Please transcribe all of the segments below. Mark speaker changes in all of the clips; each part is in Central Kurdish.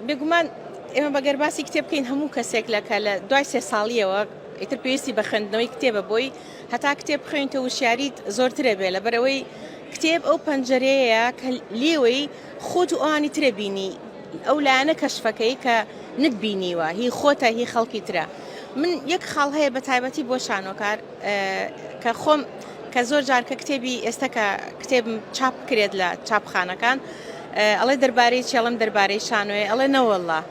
Speaker 1: بێگومان ئێمە بەگەر باسی کتێب بکەین هەموو کەسێک لە کە لە دوای سێ ساڵیەوە ئیتر پێویستی بە خوێندنەوەی کتێبە بۆی هەتا کتێب بخوێنیتە وشیاریت زۆرترە بێ لە بەرەوەی کتێب ئەو پەنجەرەیە کە لێوەی خۆت و ئەوانی ترە بینی ئەو لایەنە کەشفەکەی کە نتبینیوە هی خۆتە هی خەڵکی ترە من یەک خاڵ هەیە بە تایبەتی بۆ شانۆکار کە خۆم کە زۆر جار کە کتێبی ئێستا کە کتێب چاپ کرێت لە چاپخانەکان ئەڵێ دەربارەی چی ئەڵێم دەربارەی شانۆیە ئەڵێ نەوەڵا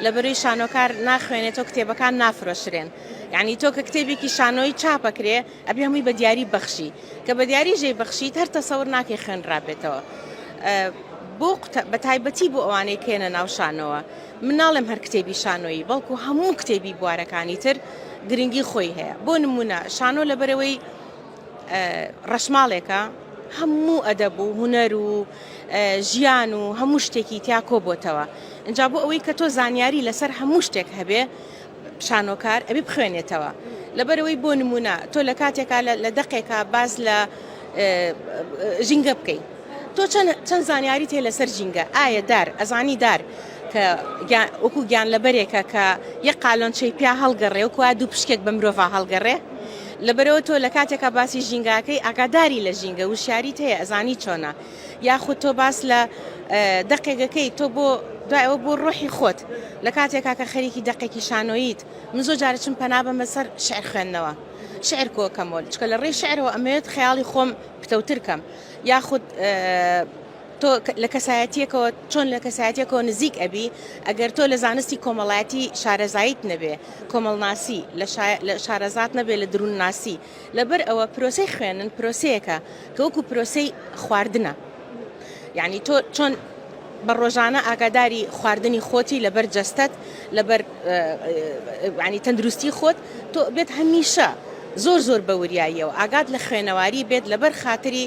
Speaker 1: لەبەروی شانۆکار ناخوێنێت تۆ کتێبەکان نافرۆشرێن یعنی تۆ کە کتێبێکی شانۆی چاپەکرێ ئەبێ هەمووی بە دیاری بەخشی کە بە دیاری ژێ بەخشیت هەر تەسەور ناکەی خوێنرابێتەوە بۆ بە تایبەتی بۆ ئەوانەی کێنە ناو شانەوە مناڵم هەر کتێبی شانۆیی بەڵکو هەموو کتێبی بوارەکانی تر گرنگی خۆی هەیە بۆ نمونە شانۆ لەبەرەوەی ڕەشماڵێکە هەموو ئەدەب و هونەر و ژیان و هەموو شتێکی تیا کۆبۆتەوە ئەجا بۆ ئەوەی کە تۆ زانیاری لەسەر هەموو شتێک هەبێ شانۆکار ئەبی بخوێنێتەوە لەبەرەوەی بۆ نمونە تۆ لە کاتێکا لە دەقێکا باز لە ژینگە بکەیت تۆ چەند زانیاری تێ لەسەر ژینگە ئایا دار ئەزانی دار کە وەکو گیان لەبەرێکە کە یە قالۆنچەی پیا هەڵگەڕێ و کوا دوو پشکێک بە مرۆڤ هەڵگەڕێ لەبەرئەوە تۆ لەکاتێکا باسی ژینگاکەی ئاگاداری لە ژینگە وشیاریت هەیە ئەزانی چۆنە یاخود تۆ باس لە دەقێگەکەی تۆ بۆ دوای ئەوە بۆ ڕۆحی خۆت لە کاتێکا کە خەریکی دەقێکی شانۆییت من زۆر جارە چم پەنا بەمە سەر شعر خوێندنەوە شعر کۆکەمەوە چکە لە ڕێی شعرەوە ئەمەوێت خەیاڵی خۆم پتەوتر کەم یاخود تۆ لە کەسایەتیەکەوە چۆن لە کەسایەتیەکەوە نزیک ئەبی ئەگەر تۆ لە زانستی کۆمەڵایەتی شارەزایت نەبێ کۆمەڵناسی لە شارەزات نەبێ لە درون ناسی لەبەر ئەوە پرۆسی خوێنن پرۆسەیەەکە کە وەکو پرۆسی خواردنە یعنی تۆ چۆن بە ڕۆژانە ئاگاداری خواردنی خۆتی لەبەر جەستەت لەبەر ینی تەندروستی خۆت تۆ بێت هەمیشە زۆر زۆر بە وریاییەوە ئاگات لە خوێنەواری بێت لەبەر خااتری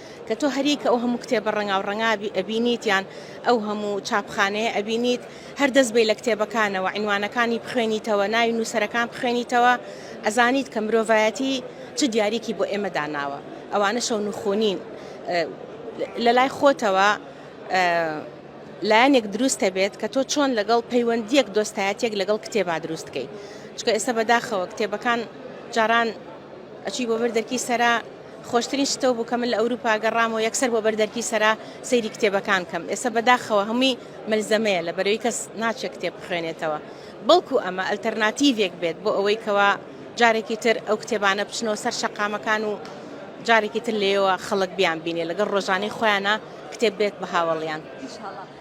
Speaker 1: کە تۆ هەر یەک ئەو هەموو کتێبە ڕەنگاو ڕەنگا ئەبینیت یان ئەو هەموو چاپخانەیە ئەبینیت هەر دەست بەی لە کتێبەکانەوە عینوانەکانی بخوێنیتەوە ناوی نووسەرەکان بخوێنیتەوە ئەزانیت کە مرۆڤایەتی چ دیاریکی بۆ ئێمە داناوە ئەوانە شەو نوخونین لە لای خۆتەوە لایەنێک دروستە بێت کە تۆ چۆن لەگەڵ پەیوەندیەک دۆستایەتێک لەگەڵ کتێبا دروست بکەیت چکە ئێستا بەداخەوە کتێبەکان جاران ئەچی بۆ بەر دەرکی سەرا خۆشترین شت ئەو بوو کە من لە ئەوروپا گەڕام و یەکسەر بۆ بەر دەرکی سەرا سەیری کتێبەکان بکەم. ئێستا بەداخەوە هەمووی مەلزەمەیە لەبەرەوەی کەس ناچێت کتێب بخوێنێتەوە. بەڵکو ئەمە ئەلتەرناتیڤێک بێت بۆ ئەوەی کەوا جارێکی تر ئەو کتێبانە بچنەوە سەر شەقامەکان و جارێکی تر لێیەوە خەڵک بیانبینێت لەگەڵ ڕۆژانەی خۆیانا کتێب بێت بە هاوەڵیان.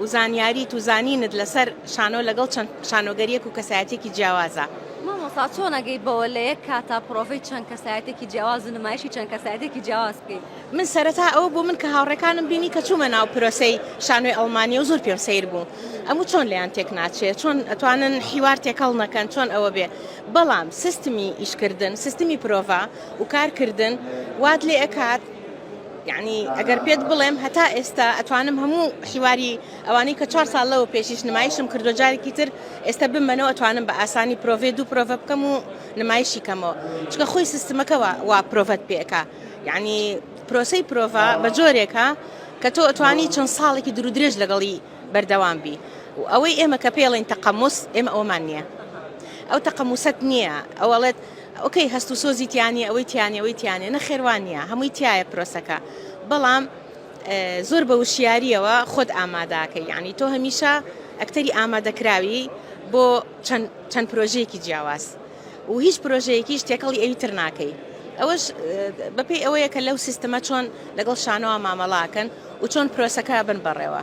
Speaker 1: و زانیاریت و زانینت لەسەر شانۆ لەگەڵ چەند شانۆگەریەک و کەسایەتیەکی جیاوازە. مامۆستا چۆن
Speaker 2: ئەگەی بەوە لە یەک کاتا پڕۆڤەی چەند کەسایەتێکی جیاواز و نمایشی چەند کەسایەتێکی جیاواز بکەی؟ من سەرەتا ئەوە
Speaker 1: بۆ من کە هاوڕێکانم بینی کە چوومە ناو پرۆسەی شانۆی ئەڵمانیە و زۆر پێم سەیر بوو ئەموو چۆن لێیان تێک ناچێ چۆن ئەتوانن حیوار تێکەڵ نەکەن چۆن ئەوە بێ بەڵام سستمی ئیشکردن سستمی پرۆڤە و کارکردن وات لێ ئەکات یەعنی ئەگەر پێت بڵێم هەتا ئێستا ئەتوانم هەموو حیواری ئەوانەی کە چوار ساڵ لەوە پێشیش نمایشم کردو جارێکی تر ئێستا بمەنەوە ئەتوانم بە ئاسانی پرۆڤەی دوو پرۆڤە بکەم و نمایشی کەمەوە چکە خۆی سیستمەکە وا پرۆڤەت پێکا یەعنی پرۆسەی پرۆڤە بە جۆرێکە کە تۆ ئەتوانی چەند ساڵێکی درو درێژ لەگەڵی بەردەوام بی و ئەوەی ئێمە کە پێڵین تەقەموس ئێمە ئەومان نییە ئەو تەقەموسەت نییە ئەوەڵێت ئۆکەی هەست و سۆزی تیانیە ئەوەی تیانیە ئەوەی تیانیە نەخێر وانیە هەمووی تیایە پرۆسەکە بەڵام زۆر بە وشیاریەوە خۆت ئاماداکە یعنی تۆ هەمیشە ئەکتەری ئامادەکراوی بۆ چەند پرۆژەیەکی جیاواز و هیچ پرۆژەیەکیش تێکەڵی ئەوی تر ناکەی ئەوەش بەپی ئەوەیە کە لەو سیستمە چۆن لەگەڵ شانەوە مامەڵاکەن و چۆن پرۆسەکە بن بەڕێوە